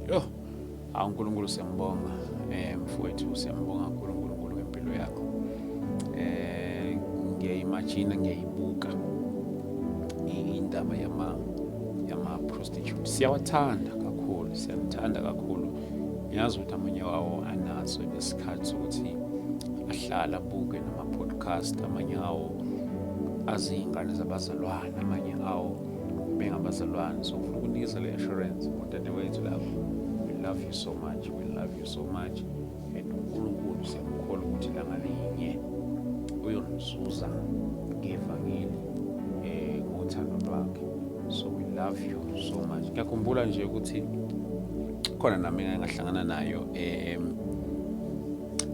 Yho, awu uNkulunkulu siyambonga eh, mfowethu siyambonga kakhulu uNkulunkulu ngempilo yakho eh, ngiyayimajina ngiyayibuka indaba yama yama-prostitute siyawathanda kakhulu siyamuthanda kakhulu ngiyazi ukuthi amanye wawo anaso nesikhathi sokuthi ahlala abuke nama-podcast amanye awo aziy'ngane zabazalwane amanye awo bengabazalwane so ngifuna ukunikeza le assurance udadewethu lapho we love you so much we love you so much and unkulunkulu siyamkhola ukuthi langa linye uyonizuza ngevangeli um eh, ngothando lwakhe so we love you so much ngiyakhumbula nje ukuthi khona nami engangahlangana nayo um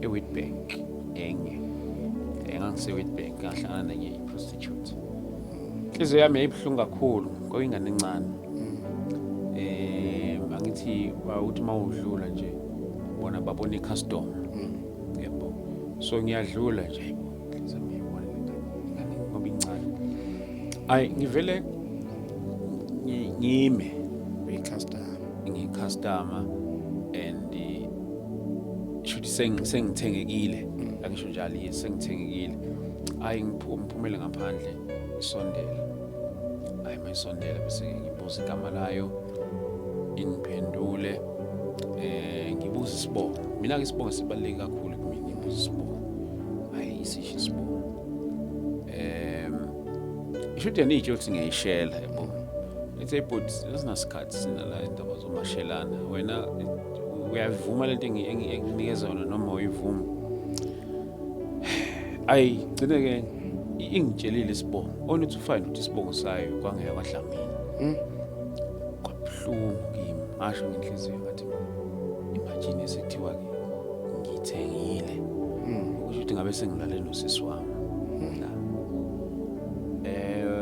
ewitbank enye engangisewitbank ngahlangana nenye i-prostitute inhliziyo yami yayibuhlungu kakhulu kwakuyingane encane um angithi wawuthi uma udlula nje bona babona i-custom yebo so ngiyadlula nje ngoba incane ayi ngivele ngime ngiyi-customer and shuthi sengithengekile angisho njalo yes sengithengekile ayi ngiphume ngiphumele ngaphandle isondela ayi mayisondela bese ngibuza igama layo ingiphendule eh ngibuza isibongo mina ke isibongo sibaluleke kakhulu kumina ngibuza isibongo ayi isisho isibongo em isho ukuthi anitsho ukuthi ngiyayishela yabo ethe bhuti sinasikhathi sina la indaba zomashelana wena uyavuma lento enginikeza yona noma uyivuma ayi gcine ke ingitshelile isibongo only to find ukuthi isibongo sayo kwangeka kwadlamini hmm? kwabuhlungu kimi ngasho ngenhliziyo ngathi imagine esekuthiwa ke ngithengile hmm. kusho ukuthi ngabe sengilale nosisi wami hmm. la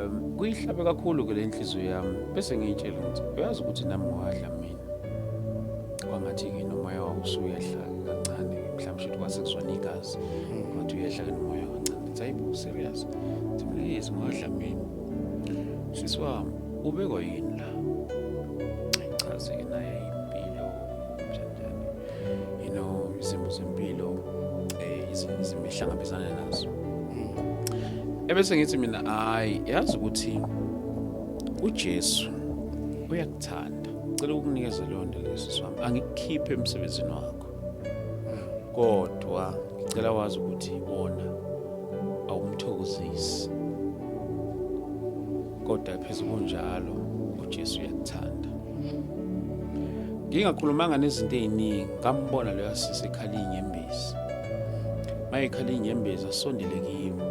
um kuyihlabe kakhulu ke le nhliziyo yami bese ngiyitshela ukuthi uyazi ukuthi nami ngiwadlamini kwangathi-ke nomoya wawusuyehla kancane mhlawumbe shuthi kwase kuzona igazi ngathi uyehla ke nomoya kancane ithi hayi bo serious ithi mina yes moya dlamini sisi wami ubekwa yini la ayichaze-ke naye impilo njanjani you know izimo zempilo um zimihlangabezane nazo ebese ngithi mina hhayi yazi ukuthi ujesu uyakuthanda ngicela ukunikeza leyo nto lesi swami angikukhiphe emsebenzini wakho kodwa ngicela wazi ukuthi wona awumthokozisi kodwa phezu kunjalo uJesu uyakuthanda ngingakhulumanga nezinto eziningi ngambona leyo sisi ekhala inyembezi mayekhala inyembezi asondele kimi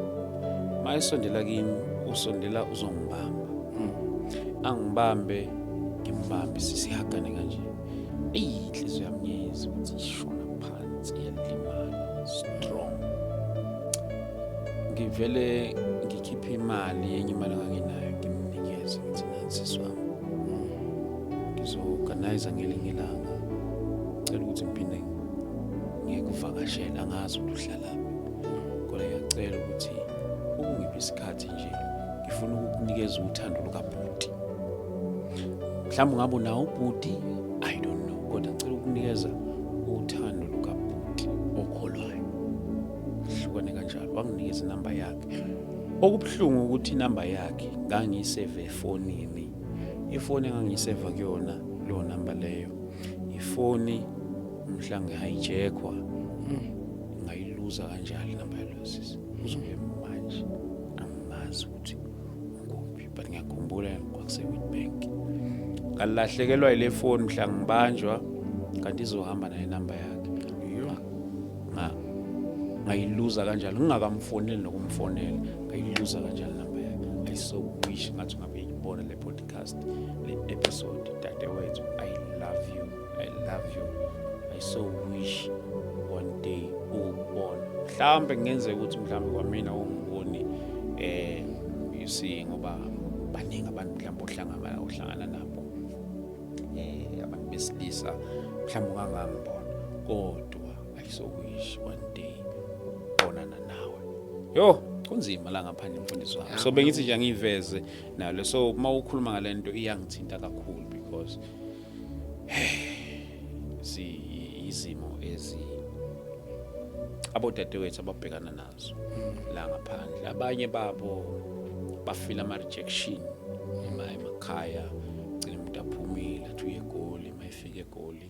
mayesondela kimi usondela uzongibamba hmm. angibambe ngimbambe sisihagane kanje eyi inhliziyo yami ngiyayizwa ukuthi ishona phansi iyalimala strong ngivele ngikhiphe imali enye imali anganginayo ngimnikeze ngithi nansi sisi wami ngizoganiza ngelinye ilanga cela ukuthi ngiphinde ngiyekuvakashela angazi ukuthi uhlalaphi kodwa ngiyacela ukuthi ungiphe isikhathi nje ngifuna ukukunikeza uthando lukabhuti mhlawumbe ungabe unawo ubhuti i don't know kodwa ngicela ukunikeza uthando lukabhuti okholwayo hlukane kanjalo wanginikeza inamba yakhe okubuhlungu ukuthi inamba yakhe ngangiyiseve efonini ifoni engangiyiseva kuyona leyo namba leyo ifoni mhla ngihayijekhwa hmm. ngayiluza kanjalo inamba yalo Sisi, uzongena manje. Angimazi ukuthi ukuphi but ngiyakhumbula kwakuseWitbank. Ngalahlekelwa yile foni mhla ngibanjwa kanti izohamba naye inamba yakhe. Nga ngayiluza kanjalo ngingakamfoneli nokumfonela ngayiluza kanjalo inamba yakhe. I so wish ngathi ngabe yibona le podcast le episode dadewethu I love you. i love you i so wish one day ukubona mhlawumbe kungenzeka ukuthi mhlawumbe kwamina ungiboni eh you see ngoba baningi abantu mhlawumbe ohlangana ohlangana nabo eh abantu besilisa mhlawumbe ungangambona kodwa i so wish one day ubonana nawe yo kunzima la ngaphandle mfundisi wami so bengithi nje angiyiveze nalo so uma ukhuluma ngalento iyangithinta kakhulu because izimo ezi abodadewethu ababhekana nazo la ngaphandle abanye babo bafila ama-rejection emakhaya gcina umuntu aphumile athi uye egoli uma efika egoli